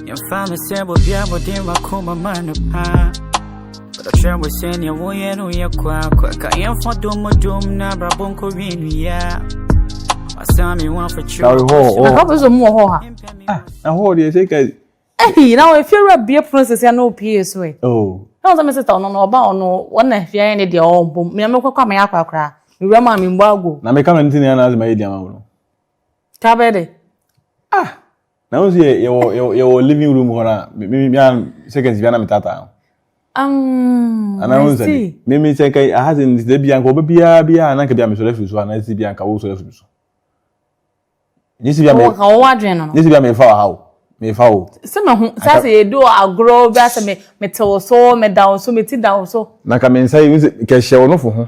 Yɛmfa me sɛ bobi abɔde makoma ma no paa Ɔkyerɛ mo sɛ nea woyɛ no yɛ kwaakwa Ka yɛmfa dom dom na abrabɔ nkɔ wie nnua Ɔsan me ho afakyerɛ Sorry, ho, ho. Nka pɛ sɛ mu wɔ hɔ ha. Ah, na ho deɛ sɛ ka. Ehi, na wɔn fiewura bie pono sisi ɛna opie so ɛ. Oh. Na wɔn sɛ mi sita ɔno na ɔba ɔno wɔn na fia yɛ ne deɛ ɔwɔ mpom. Mìa mi kɔkɔ ama yɛ akɔ akora. Mìwura mu a mi mbɔ ago. Na mi ka mi ti na yɛ na azima yɛ di ama wɔn. Kabɛ de. Ah. Na wọn sɛ yɛ wɔ yɛ wɔ living room hɔ na mi mi mi an seconds bi ana mi tata. Um, ana wọn sɛ mi mi sɛ nka aha sɛ nsɛ bi anka ɔbɛ biara biara ana nka bi a mi sɔrɔ afiri so ana si bi anka wo sɔrɔ afiri so. Nye si bi a mi. Ɔwɔ ɔwɔ adwene no. Nye si bi a mi fa wɔ ha o mi fa o. Sɛ mi ho sɛ sɛ yɛ di wɔ agorɔ bi asɛ mi mi te wɔ so mi da wɔ so mi ti da wɔ so. Na ka mi nsa yi mi sɛ kɛ hyɛ wɔ no fo ho.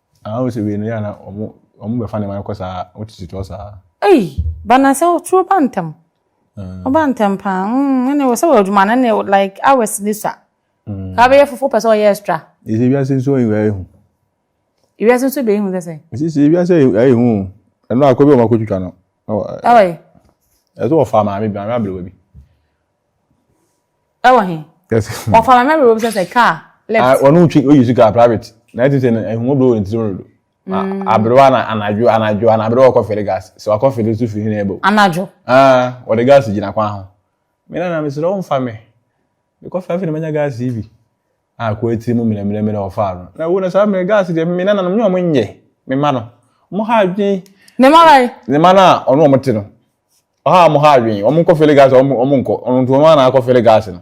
Aa wo se wei no yɛ a na ɔmo ɔmo bɛfa nneɛma no kɔ saa wotete toɔ saa. Ei ba na sɛ otuo ba ntɛm. Ɔba ntɛm paa mm ɛne wɔ sɛ wɔ adwuma no ɛne like hours ne sua. Ka bɛyɛ fufu pɛ sɛ ɔyɛ extra. Ɛsɛ wiase nso ɛyɛ ɛyɛ hu. Wiase nso bɛyɛ hu sɛ sɛ. Ɛsɛ sɛ wiase ɛyɛ hu ɛno akɔ bi ɔmo akɔ twitwa no. Ɛwɔ. Ɛsɛ ɔfa maame bi maame abelewa bi. ɛwɔ he ɔfa ma mɛwerɛ bi sɛ sɛ kaa left ɔno ntwi oyi su kaa private na ɛte sɛ ɛhumo bro ne tirim dodo aberewa na anadwo anadwo ana aberewa ɔkɔ fere gas sɛ wakɔ fere so firi hene ɛbɛ anadwo ah ɔde gas gyina kwan ho me na na mesrɛ wo mfa me mekɔ fɛ afei na manya gas yi bi a kɔ atiri mu mmerɛmmerɛmmerɛ ɔfa no na wo na saa mmerɛ gas deɛ me na nanom nyɛ ɔmo nyɛ me ma no ɔmo ha adwen ne ma bɛn ne ma no a ɔno ɔmo te no ɔha wɔn ha adwene wɔn nkɔ fele gaase wɔn wɔn nkɔ wɔn nti wɔn ara na akɔ fele gaase no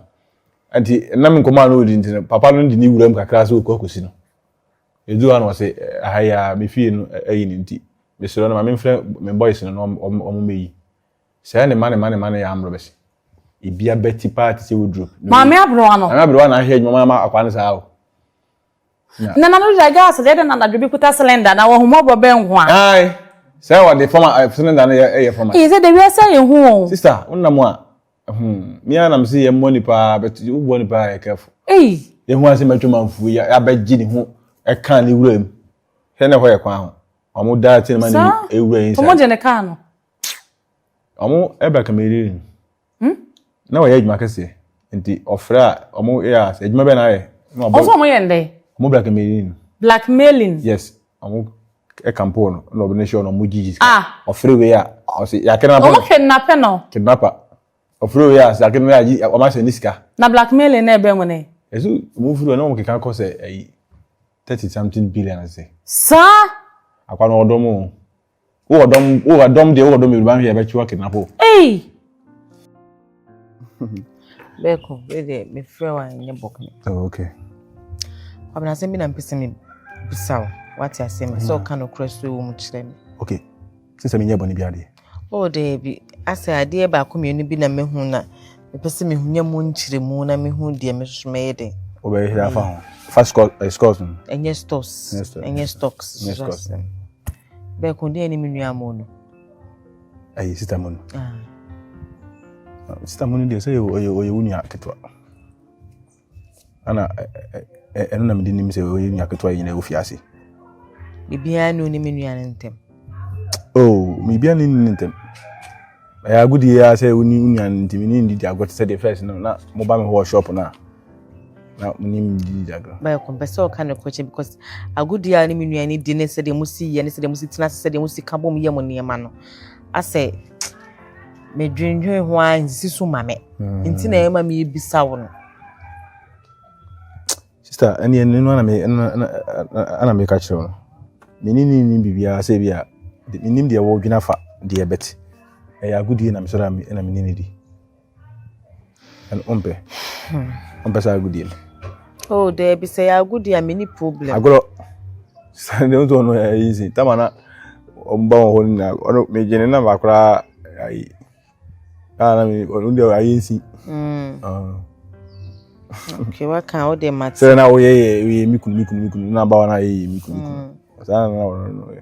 nti nam nkɔmɔ a na odi nti no papa no de ne wura mu kakra sɛ okɔ akɔsi no edu ha na ɔsɛ aha yi a me fie no ayi ne nti mesrɛ no ma me mfrɛ me boys no na wɔn wɔn mɛyi sɛ ne ma ne ma ne ma no yɛ amorɔ bɛsi ebi abɛti paa te sɛ woduro maame aberewa no maame aberewa na ahwɛ adwuma ma akwa no saa o Nana no da gas deɛ ɛdɛ na anadwo bi kuta cylinder na wɔhomɔbɔ bɛ nko a. Ayi sɛ wɔde fam a cylinder no yɛ ɛyɛ fam a. Eyi sɛ de wiase ayɛ hu o. Sista wona mu a hmm mi ara nam sɛ yɛ mmɔ nipa but wo bɔ nipa yɛ careful. Eyi. Yɛ hu asɛm atwa manfuo yi abɛ gye ne ho ɛka ne wura mu hwɛ na ɛhɔ yɛ kwan ho wɔn da ti ne ma ne wura yi nsa. Saa wɔn gye ne kaa no. Wɔn ɛbɛ kama eriri. Hmm? Na wɔyɛ adwuma kɛseɛ. Nti ɔfrɛ a ɔmo yɛ a sɛ adwuma bɛn na ayɛ. Na ɔbɔ. Ɔsɛ ɔmo yɛ ndɛ. Ɔmo blackmailing no. Blackmailing. Yes. Ɔmo ɛkampoo no na ɔbɛn hyɛ ɔno ɔmo gyigyi sika. Ah. Ɔfrɛ wei a ɔsɛ yɛakɛnapɛ no. Ɔmo kidnapɛ no. Kidnapper. Ɔfrɛ wei a sɛ akɛnapɛ no agye ɔmo ahyɛ ne sika. Na blackmailing na ɛbɛn wɔn ɛ. Ɛso ɔmo firi hɔ na ɔmo keka kɔ sɛ ɛyi thirty something billion ase. Saa. Akwa no ɔdɔm o. wo wɔ dɔm wo wɔ dɔm deɛ wo wɔ dɔm bebree ba hwɛ ɛbɛtwe wa kidnap o. ɛyi bɛɛko wei deɛ mefrɛ wa nyɛ bɔk ne. Oh, okay. ɔbɛn asɛm bi na mpɛ sɛ mi bisa o wate asɛm bi sɛ mm. ɔka no kura so ewu mu kyerɛ mi. okay sisan mi nyɛ bɔ ne bi adeɛ. o oh, deɛ bi asɛ adeɛ baako mmienu bi na mehu na. Mepɛ sɛ mehu nya mu nkyerɛmu na mehu deɛ me nso mɛyɛ dɛn. Wobɛhwɛ afa ho. Fa scores no. Ɛnyɛ stores. Ɛnyɛ stocks. Ɛnyɛ stocks. Bɛɛ ko deɛ ne me nua mo no. Ɛyɛ sita mu no. Sita mu no deɛ sɛ ɔyɛ wo nua ketewa. Ɛna ɛno na mede nim sɛ ɔyɛ nua ketewa nyinaa wɔ fiase. Biribiara ne onim nua no ntɛm. Oh, biribiara ne onim ntɛm. Ɛyɛ agodie ara sɛ woni nua no ntɛm ne ndidi agorɔ te sɛ deɛ fɛs no na moba me hɔ wɔ shop no a na monim ndidi agorɔ. Bɛyɛ kɔmpɛ sɛ ɔka ne kɔkyɛ because agodie a ne me nua no di ne sɛdeɛ mosi yɛ ne sɛdeɛ mosi tena ase sɛdeɛ mosi ka bom yɛ mo nneɛma no asɛ medwendwen ho ara nsi so ma me mm. nti na ɛma mebisa wo no sister ɛneɛ no no ana meka kyerɛ wo no mene ne nim biribiaa sɛ bi a menim deɛ wɔdwena fa deɛ bɛte ɛyɛ agodie na mesɔre na mene ne di ɛno ɔmpɛ hmm. ɔmpɛ sɛ agodie no oh daabi sɛ yɛ agodie a meni problem agorɔ sɛ deɛ wosɛ ɔno ɛyɛ easy tama na ɔmba wɔ hɔ no nyinaa ɔno megye ne namba koraa ayi kaa na me ɔno deɛ ayɛ nsi hmm. ah. okay waka wo deɛ mate sɛ na woyɛ yɛ woyɛ mikunu mikunu mikunu na ba wa na yɛ yɛ mikunu mikunu hmm. saa na na ɔno no yɛ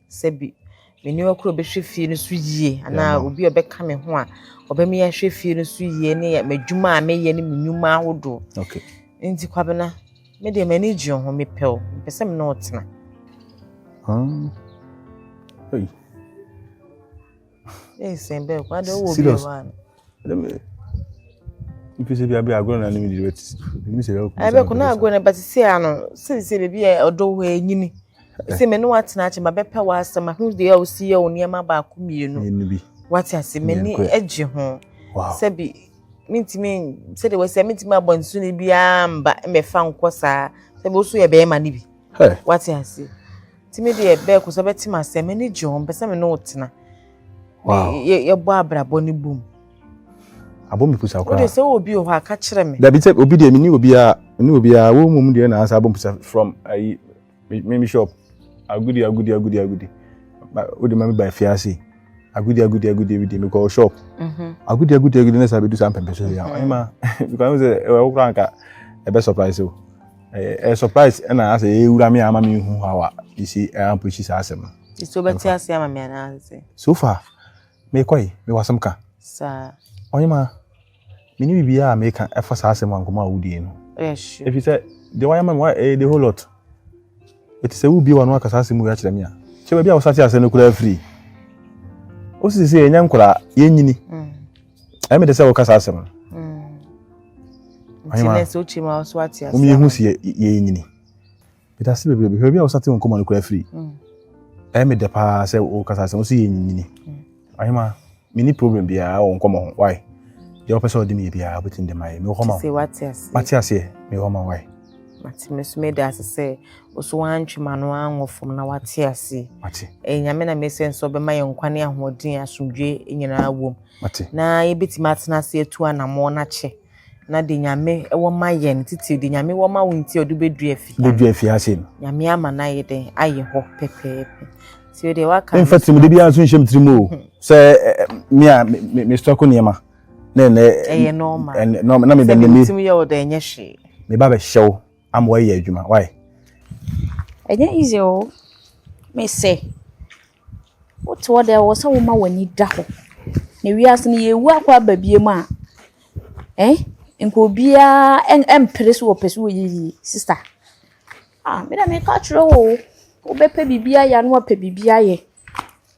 sɛ bi me nneɛma koro bɛhwɛ fie no so yie anaa obi a ɔbɛka me ho a ɔbɛmi ahwɛ fie no so yie ne m'adwuma a meyɛ ne me nnwuma ahodoɔ okay nti kwabena me deɛ m'ani gye ho mepɛ o mepɛ sɛ me ne ɔtena hmm. hey. Mpese bia bia agorɔ na ne midi bɛti ɛmi sɛ ɛbɛkɔ ɛbɛ kɔ na agorɔ na bɛti sɛ ano sɛ sɛ baabi yɛ ɔdɔ hɔ ɛnyini sɛ mɛ ne watena akyɛ ma bɛpɛ w'asɛm ahu deɛ a osi yɛ o nneɛma baako mmienu wate ase mɛ ni ɛgye ho sɛbi mintimi sɛdeɛ wɔsi mintimi abɔ nsu ne biara mba mɛfa nkɔ saa sɛbi oso yɛ bɛrima ne bi wate ase. Timi deɛ bɛɛ kosɛ bɛ tim asɛm m'ani gye ho mpɛ sɛ me ne wo tena yɛbɔ abrabɔ no bom abɔ me pusa koraa wode sɛ wɔ obi wɔ hɔ a ka kyerɛ me dabi sɛ obi deɛ mene obiaa mene obiaa wo mmom deɛ na ansa abɔ me pusa from ayi me me shop agudi agudi agudi agudi wode ma me ba afiase agudi agudi agudi agudi me kɔ shop mhm. agudi agudi agudi na sɛ abɛdu saa mpɛmpɛ so yɛ ɛma because sɛ ɛwɔ koraa nka ɛbɛ surprise o ɛyɛ surprise ɛna asɛ ewura mi ama mi hu how a esi ɛyɛ appreciate saa asɛm no. esi ɔbɛte ase ama mi anaasɛ. so far mekɔ yi mewɔ asɛm ka. saa. ɔnyɛma mi ni bibi a meka ɛfa saa asɛm ankoma a wodie no. ɛyɛ sure. efi sɛ deɛ wayɛ ma mi wayɛ ɛyɛ the whole lot eti sɛ wubie wa no akasa asɛm wei akyerɛ mi a kyɛ baabi a wɔsate asɛm no koraa firi osi sɛ yɛnyɛ nkoraa yɛnyini mm. ɛyɛ mede sɛ wokasa asɛm no wom yɛhu si yɛyɛ nyini medase bebrebe hwɛ bi a wosate wo nkɔmmɔ no kora firi mm. ɛyɛ medɛ paa sɛ wokasa asɛm wo sɛ yɛ nyini ahema mm. menni problem biara wɔ nkɔmmɔ ho wae deɛ wopɛ sɛ ɔde meyɛ biara wobɛtumi de mayɛ mewɔ hɔ ma wate aseɛ mewɔ ma wae Mate me so meda ase sɛ ɔso wantwe m'ano anwɔ fam na wate ase. Mate. Eh, nyame na mesɛ nso ɔbɛma yɛn nkwa ne ahoɔden asomdwe nyinaa wom. Mate. Na yɛbɛtumi atena ase atu anammɔn no akyɛ na de nyame wɔ ma yɛn titiri de nyame wɔ ma wo nti ɔde bɛdua fi bɛdua fi ase no nyame ama no ayɛ dɛn ayɛ hɔ pɛpɛɛpɛ nti o deɛ waka mfa tirim de biara nso nhyɛm tirim o sɛ me a me stɔko nneɛma na ɛnɛ ɛyɛ normal ɛnɛ normal na mi bɛ ne mi sɛ mi yɛ ɔdɔ ɛnyɛ hwee mi ba bɛ hyɛ o ama ɔyɛ adwuma why. ɛnyɛ easy o mi sɛ wote hɔ dɛ wɔ sɛ woma w'ani da hɔ na wiase no yɛ ewu akɔ aba bie mu a ɛn nka obiara ɛn ɛmpere so wɔpɛ so wɔyɛ yie sista ah mi na mi ka kyerɛ wo o wobɛpɛ biribi ayɛ ano apɛ biribi ayɛ.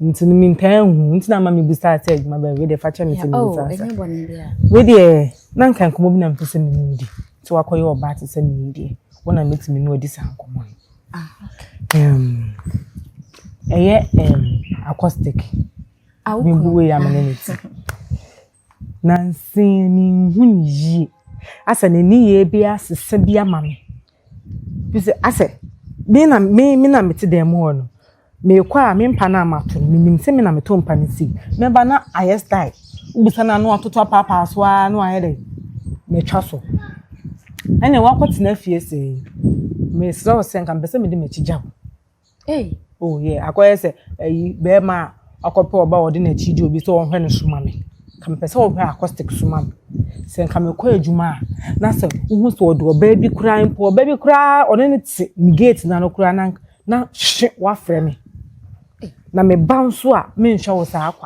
nti no mentaa nhu nti na ama mebusaa sɛ adwuma bɛn wei deɛ fa kyɛ me sɛ mebusaa oh, sa wei deɛ na nka nkɔmmɔ bi na mepɛ sɛ me ne wodi nti wakɔyɛ ɔbaa te sɛ meyɛ deɛ wo na mɛtumi ne wadi saa nkɔmmɔ no ah, ɛyɛ acoustic ah, mebu wei amene ne ti Nansa yi mennhu no yie. Asɛ ne nneyɛɛ bi asesa bi ama me. Firi sɛ asɛ me na me me na mete dan mu hɔ no, meekɔ a me mpa no a mato no, menim sɛ me na meto mpa no sei. Mɛba na ayɛ style. Wobisa no a na watoto apaapaa so ara na wayɛ dɛ matwa so. Ɛnneɛ woakɔtena fie sei, mesrɛ wo sɛ nka mepɛ sɛ mede m'akyi gya wo. Ei! Oh yeah, akɔyɛ sɛ ayi bɛrima a ɔkɔpɛ ɔbaa a ɔde n'akyi gye obi sɛ ɔnhwɛ no so ma me. Nka mepɛ sɛ ɔhwɛ acoustic so ma me. Sɛ nka mekɔ adwuma a, na sɛ wohu sɛ ɔde ɔbaa bi koraa mpo, ɔbaa bi koraa ɔne no te me gate no ano koraa na nka na hwe! Woafrɛ me. Na meba nso a, menhwɛ wo saa kwa.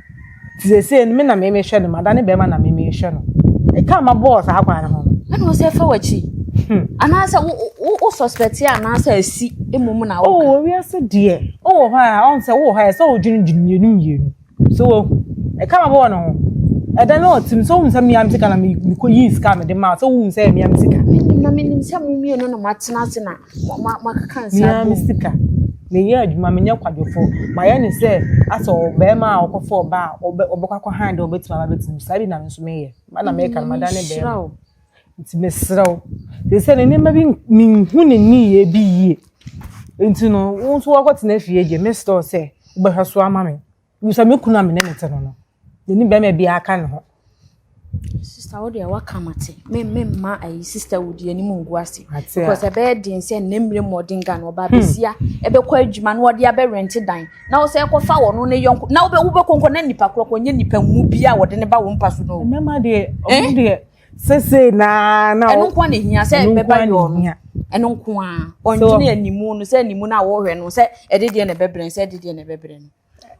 Nti sɛsɛ no me na me mehwɛ no ma da ne bɛrima na me mehwɛ no. Ɛka ma bɔɔ saa kwan no ho no. Ɛna wɔ sɛ fa wakyi. Hmm. Anaasɛ wo suspect yɛ anaasɛ asi emu mu na woka. Oh, owi ase deɛ. Oh, wɔ hɔ a, ɔn sɛ wɔ hɔ a, sɛ wodwene dwene mmienu mmienu. So wɔ hu. Ɛka ma bɔɔ no ho. Ɛda no ɔtim sɛ wohun sɛ mmea me sika na mekɔ yii sika me de ma sɛ wohun sɛ mmea me sika. Menim na menim sɛ mo mmienu na matena ase na Mea me sika. Meyɛ adwuma, menyɛ kwadwofo. Mayɛ no sɛ asɛ ɔbarima a ɔkɔfa ɔba a ɔbɛ ɔbɛkɔ akɔhan dɛ ɔbɛtumi aba abɛtena mu. Saa bi na me nso meyɛ. Ba na meka no, madane barima. Nti mesrɛ wo, te sɛ ne nneɛma bi menhu ne nneyɛɛ bi yie. Nti no, wo nso woakɔtena fie deɛ, mesrɛ wo sɛ wobɛhwɛ so ama me. bisa me kunu a me ne no te no no me ne bɛrima biara ka ne ho. sista wo deɛ waka ma te me me mma ayi sista wo di anim ngu ase because ɛbɛyɛ den sɛ ne mmiri mmɔden ga na ɔba hmm. besia ɛbɛkɔ adwuma na ɔde abɛ rɛnte dan na ɔsɛ ɛkɔfa wɔn no ne yɔnko na wobɛ wobɛ kɔnkɔ na nipa korɔ kɔ nye nipa mu bi a wɔde ne ba wɔn mpa so no. mmarima deɛ ɔmo eh? deɛ sese naa na ɛno nko na ehia sɛ ɛbɛba yɛ ɔno ɛno nko a ɔndwene animu no sɛ animu no a wɔhwɛ no sɛ ɛde deɛ na ɛbɛbrɛ sɛ ɛde deɛ na ɛbɛbrɛ no.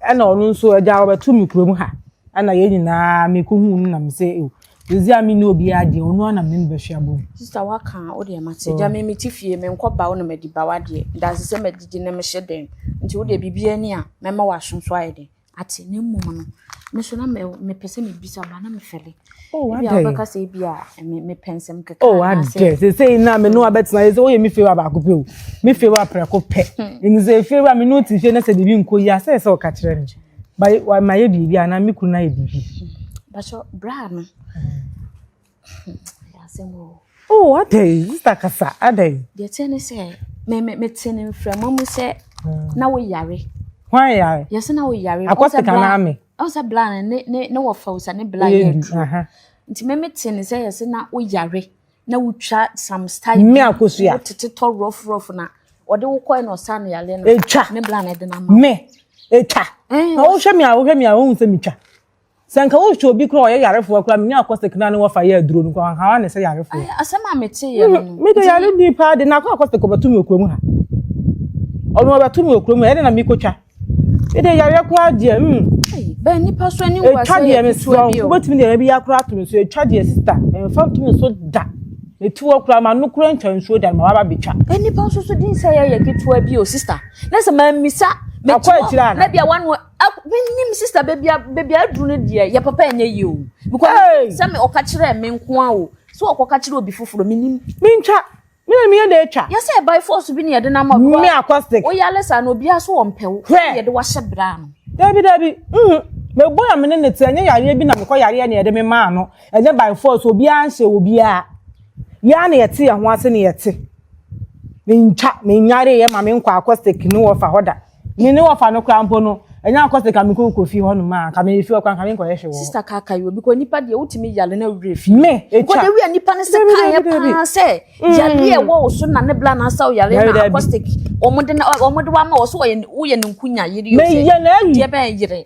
Ɛna ɔno nso agya ɔbɛto me kurom ha ɛna yɛn nyinaa meko hu no nam sɛ ewu yɛdzi a mene obiara deɛ ɔno ara na mene no bɛhwɛ abɔ mu. Sista waka a wo deɛ mate gya me mete fie menkɔ ba wo na madi ba wadeɛ danse sɛ madidi na mehyɛ dɛm nti wo deɛ biribiara ni a mɛma w'aso so ayɛ den ate na mmom no me so na mepɛ sɛ mebisa ba na mefɛle. Oh, ebi a wobɛka sɛ ebi a mepɛ nsɛm kɛkɛ oh, anaasɛ sesei na me ne hmm. wabɛtena yɛ sɛ woyɛ me fewura baako pɛ o me fewura prɛko pɛ hmm. ɛnu sɛ fewura me ne wote fie na sɛ biribi nkɔ yi a sɛ sɛ ɔka kyerɛ me mayɛ biribi anaa me kunu ayɛ biribi hmm. bakyɛ braa no asɛm o oh adɛn sista kasa adɛn deɛ teɛ ne sɛ mete ne mframa mu sɛ na woyare hwan yare yɛsɛ na woyare akɔsika no ame Ɔn sɛ bla no ne ne ne wɔ fɛw sɛ ne bla yɛ aduro. Nti me me te ne sɛ yɛ sɛ na o yare na o twa some style. Me akosu ya. O tete tɔ rough rough na ɔde wo kɔɛ na ɔsa ne yale no. Etwa. Ne bla na ɛde na ma. Me etwa. Na o hwɛ mi a o hwɛ mi a o hun sɛ mi twa. Sɛ nka o hwɛ obi kura ɔyɛ yarefoɔ kura mi nya akɔ sɛ kina ne wɔfa yɛ aduro no kura nka wa ne sɛ yarefoɔ. Asɛm a me te yɛ no. Me de yare ni paa de na akɔ akɔ sɛ kɔbɛto mi okuro mu ha. Ɔno ɔbɛto mi okuro mu ɛde na mi kotwa. Me de yare koraa deɛ mm. Bɛ nipa so ani nwa sɛ yɛ ketewa bi o. Wobɛtumi deɛ yɛbi ya koraa to me so ɛtwa deɛ sista ɛmfa nto me so da. Ɛti wɔ koraa ma no koraa ntwa nsuo da ma waba bɛtwa. Nipa nso so din sɛ yɛyɛ ketewa bi o sista. Na sɛ mammisa mɛti wɔ na bia wano menim sista baabi a baabi a aduru no deɛ yɛ papa ɛnyɛ yie o. Because sɛ me ɔka kyerɛ me nko a o sɛ ɔkɔka kyerɛ obi foforɔ menim. Mentwa Me na meyɛ na atwa. Yɛ sɛ by force bi na yɛde no ama wo. Me acoustic. Woyɛ ale saa na obiara so ɔmpɛ wo. Hwɛ. Yɛde wo ahyɛ bra ano. Dabi dabi. Mhm. Mebɔ na me ne ne te ɛnyɛ yareɛ bi na mekɔ yareɛ na yɛde me maa no. Ɛnyɛ by force obiara nhyɛ obiara. Yɛa na yɛte yɛn ho ase na yɛte. Mentwa, menyareeɛ ma me nkɔ acoustic ne wɔfa hɔ da. Me ne wɔfa no koraa mpo no, ɛnyɛ akɔ sɛ ka me kɔ kɔ fi hɔ nom a, ka me fi hɔ koraa, ka me nkɔyɛ hwɛ wɔ. Sista kaka yi o, because nipa deɛ wotumi yale na wura fi. Me, etwa. Because ewi a nipa ne se kan yɛ paa sɛ, yale yɛ wɔ oso na ne bla na asa o yale na akɔstik, wɔn de na wɔn de wa ma wɔso wɔyɛ woyɛ ne nkunya yiri yɛ sɛ, deɛ bɛn yere.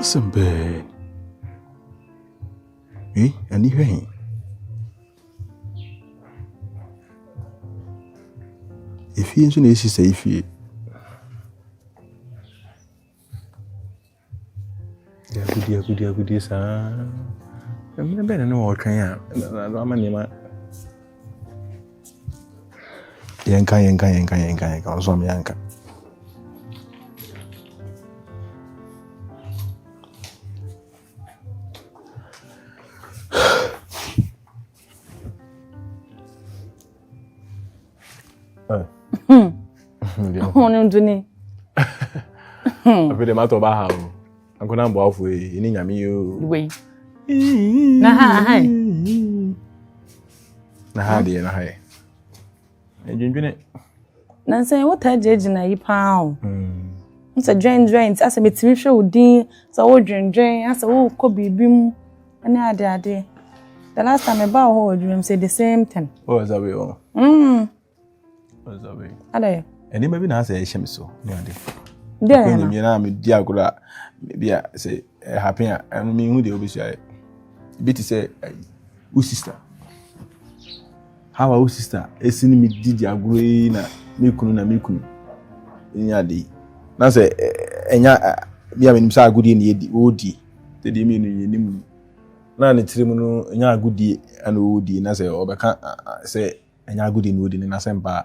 Asɛm bɛɛ. Eh, ani hwɛ he. Efie nso na esi sɛ efie. Agodie agodie agodie saa. Mmere bɛn na na wɔretwɛn a na ama nneɛma. Yɛnka yɛnka yɛnka yɛnka yɛnka ɔsɔ me anka. Hon Duni. Afei de matɔ ba ha o. Ankona mbɔ afo yi, ini nyame yi o. Wei. Na ha ha. Na ha de na ha. Dwendwene. Nansa yi wotaa gyinagyina yi paa o. Hmm. Sɛ dwendwene nti asɛ metumi hwɛ wo din sɛ wodwendwene asɛ wokɔ biribi mu ne ade ade. The last time meba wɔ hɔ wɔ adwuma mu sɛ the same thing. Wɔ oh, zabe wɔ. Oh. Mm. Wɔ oh, zabe. Adɛ. Nneɛma bi na asɛ ɛhyɛ me so ne ade. Deɛ na. Kɔnyɛ mi na mi di agorɔ a bi a sɛ ɛhapen a ɛno mi hu deɛ obi sua yɛ. Bi ti sɛ ayi wo sista. how a wo sister esi ne me didi agorɔ yi na me kunu na me kunu nya ade yi na sɛ ɛnya eh, eh, eh, bi a menim sɛ agodie ne yɛdi wɔdi sɛ deɛ mmienu yɛnim yi na ne tirim no ɛnya agodie na wɔdi na sɛ ɔbɛka sɛ ɛnya agodie ne wɔdi ne nasɛm paa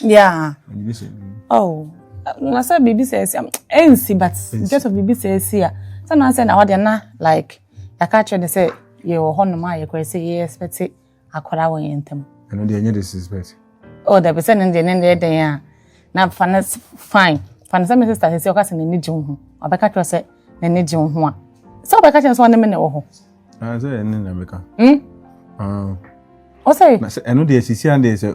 Yeah. Oh. Na sɛ biribi sɛ ɛsi ɛnsi but just of biribi sɛ ɛsi a sɛ na sɛ na ɔde na like yɛaka kyerɛ ne sɛ yɛwɔ hɔ nom a yɛkɔɛ sɛ yɛ expect akɔra wɔ yɛn ntam. ɛno deɛ ɛnyɛ disrespect. oh dabi sɛ ne deɛ ne deɛ dɛn a na fa ne fine fa ne sɛ me sister sɛ ɔka sɛ n'ani gye wo ho ɔbɛka kyerɛ sɛ n'ani gye wo ho a sɛ ɔbɛka kyerɛ sɛ ɔne me na ɛwɔ hɔ. Ah, sɛ ɛne na meka. Hmm. Ah. ɔsɛ. na sɛ ɛno deɛ sisi adeɛ sɛ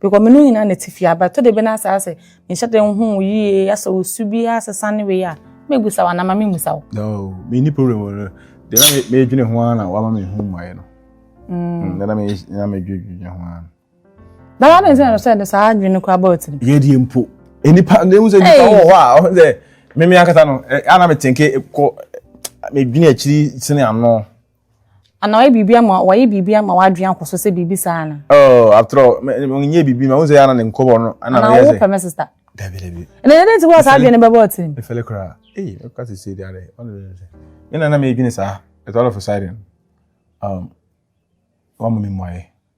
Because menu nyina na tifi aba. Ɛtɔ da bi na saa sɛ menhyɛ da nhu wo yie asɛ wo su bi asesa ne wei a mɛbusa wo anaa ma memmusa wo. No, menni problem wɔ no. Deɛ na me- medwene ho ara na wama me ho mmuaeɛ no. Mm, Deɛ na me- na medwedwene ho ara no. Na wade nsɛ na sɛ de saa adwene no koraa bɔɔ tirim. Yɛdeɛ mpo. Nnipa, na ehu sɛ nnipa Hey! wɔ hɔ a, ɔho sɛ, meme ankasa no, eh, a na metenke kɔ, medwene akyiri sene ano. Ana wayɛ biribi ama wayɛ biribi ama w'adwene akɔ so sɛ biribi saa ana? Oh, after all, menyɛ biribi ma wo sɛ yɛ ana ne nkɔbɔ no ana meyɛ sɛ. Ana wo pɛ me sista? Dabi dabi. Ɛnna ɛdɛ nti wɔ saa adwene no bɛbɔ ɔtiri mu. Efɛle koraa. Ee, ɛka sɛ sɛ deɛ ɔno deɛ sɛ. Me na na meyɛ dwene saa. It's all of a sudden. Um, wɔn mu mi mmuaeɛ.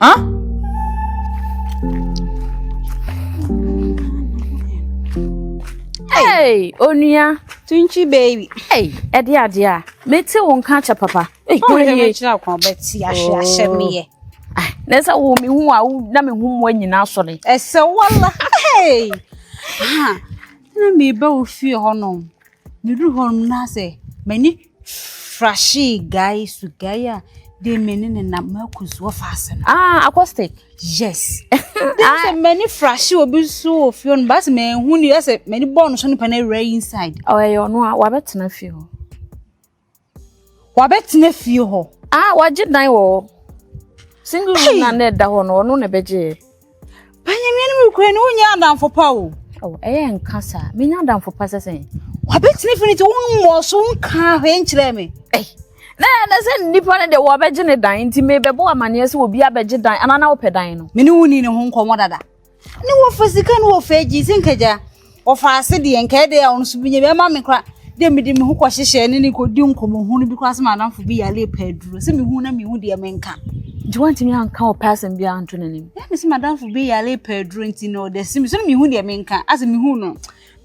Huh? Hey, onua. Tunchi baby. Hey, ɛde adeɛ a. Mete wo nka kyɛ papa. Hey, oh, yɛ me kyerɛ kwan bɛti ahwe oh. ahyɛ me yɛ. Ah, na sɛ wo me hu a wo na me hu mu nyina asɔre. Ɛsɛ wala. Hey. Ha. Na me ba wo fie hɔ no. Me du hɔ no na sɛ m'ani Frashie guy so guy a de me ne ne nam mako so ɔfa ase no. Ah, acoustic. Yes. Dem ah. sɛ mani frashie obi so wɔ fie no baasi mɛ ehu ni ɛsɛ mani bɔɔl no so nipa na ewura inside. Ɔ ɛyɛ ɔno a wabɛtena fie hɔ. Wabɛtena fie hɔ. Ah, wagye dan wɔ hɔ. Single room na na ɛda hɔ no ɔno na ɛbɛgye yɛ. Banyamia no mu kura ne ho nyɛ adamfo pa o. Oh, ɛyɛ nka saa. Menya adamfo pa sɛ sɛn? Wabɛtene fi ne ti wo mmɔɔ so nka hwee nkyerɛ me. Ei, na ɛnɛ sɛ nnipa no de wɔbɛgye ne dan nti mebɛbɔ amanneɛ sɛ obi abɛgye dan anaa na wopɛ dan no. Me ne wo ni ne ho nkɔmmɔ dada. Ne wɔfa sika ne wɔfa agyi sɛ nkagya. Ɔfaa ase deɛ nka ɛdɛ a ɔno nso bɛnya bi ɛma me kora deɛ mede me ho kɔhyehyɛ ne ne kɔdi nkɔmmɔhunu bi koraa sɛ m'adamfo bi yare pɛ aduro sɛ mehu na mehu deɛ menka nti wantumi anka ɔpɛ asɛm biara nto n'anim na me sɛ m'adamfo bi yare pɛ aduro nti na ɔda si me so na mehu deɛ menka asɛ mehu no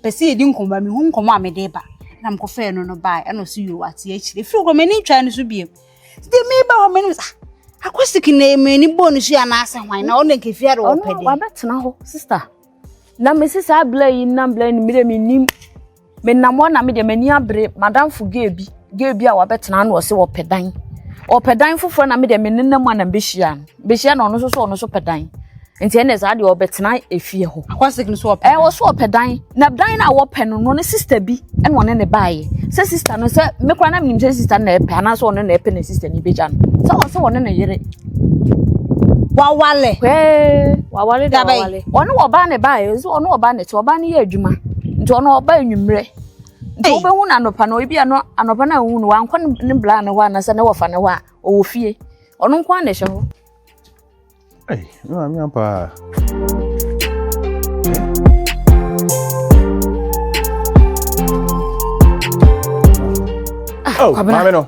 pɛ sɛ yɛdi nkɔmmɔ a mehu nkɔmmɔ a mede ba na mekɔfɛɛ no no bae ɛna ɔso yio ate akyire ɛfiri kɔ m'ani ntwae no so biam deɛ meba hɔ m'anim sɛ ah, akɔsiki na m'ani bɔɔ no so anaasɛ hwan na ɔno nkɛfie ade ɔpɛ dɛ ɔno wabɛtena hɔ sister Na me se saa bla yi nam bla no mire me nim me nam hɔ na me deɛ m'ani abere madamfo gay bi gay bi a wabɛtena na ɔse ɔpɛ dan ɔpɛ dan foforɔ na me deɛ me nenam a na mbɛhyia no mbɛhyia na ɔno nso so ɔno so pɛ dan nti ɛnna saa deɛ ɔbɛtena efie hɔ akwasik no so ɔpɛ dan ɛwɔ so ɔpɛ dan na dan na wɔpɛ no no ne sista bi ɛna ɔne ne baayɛ sɛ sista no sɛ mekora na menim sɛ sista no na ɛpɛ anaasɛ ɔno na ɛpɛ na sista no bɛgya no sɛ ɔsɛ ɔne ne yere wawale. Hey, wawale da wawale. Ɔno ɔbaa ne baa yɛ, ɔno ɔbaa ne te, ɔbaa ne yɛ adwuma. Nti ɔno ɔbaa enyimrɛ. Nti wobɛhu no anɔpa no, ebi ano anɔpa no a wohu no, wankɔ ne bla ne hɔ anasɛ ne wɔfa ne hɔ a, ɔwɔ fie. Ɔno nko ara na ɛhyɛ hɔ. Ei, me maame ampa a. Ah, oh, maame no.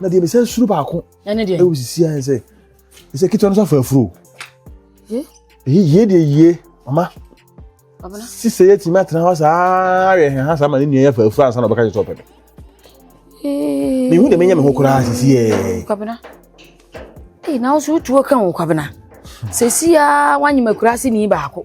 na deɛ mesɛ suro baako ɛwɔ sisi ayɛ sɛ ɛsɛ ketewa no sɛ afa afuro ɛyɛ yie deɛ yie mama sisɛ yɛ tìmí atena hɔ saa yɛ hɛn ha saa ma ne nua yɛ afa afuro ansa na ɔbɛka kyerɛ sɛ ɔpɛ me mehu deɛ menyɛ me ho koraa sisi yɛ na wo so wotuo ka wo kwabena sɛsi a woanyema kurase ni baako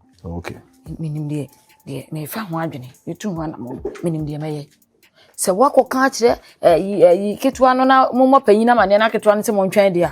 Okay. Menim deɛ deɛ mefa ho adwene metu ho anamɔ menim deɛ mɛyɛ sɛ woakɔka akyerɛ ɛyi ɛyi ketewa no na mommɔ panyin no amaneɛ no aketewa no sɛ montwɛn deɛ a